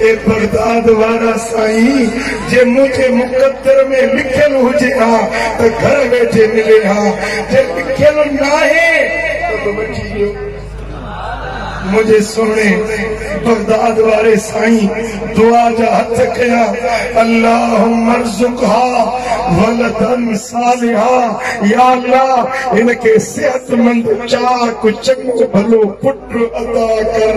اي Baghdad وارا سائين جي منهنجي مقدر ۾ لکيل هجي ها ته گهر ويٺي ملي ها جي لکيل ناهي ته وٺي ڏيو. منهنجي سهڻي بغداد واري سائين دعا جا هٿ ڪيا اللهم ارزقها ولدا صالحا يا الله هن کي صحت مند چاڪ چڱو ڀلو پٽ عطا ڪر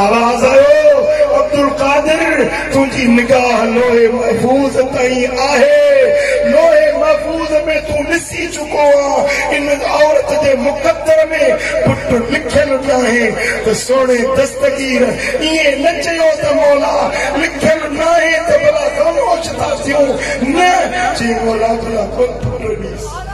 آواز آيو عبدالقادر تنهنجي نگاهه لوح محفوظ تائين آهي لوح محفوظ ۾ تون ڏسي چڪو آهين ان عورت جي مقدر ۾ پٽ لکيل ناهي ته سهڻي دستگير ائين نه چيو ته مولا لکيل ناهي ته ڀلا خاموش ٿا ٿيون نه چي مولا ڀلا پٽ ڏيس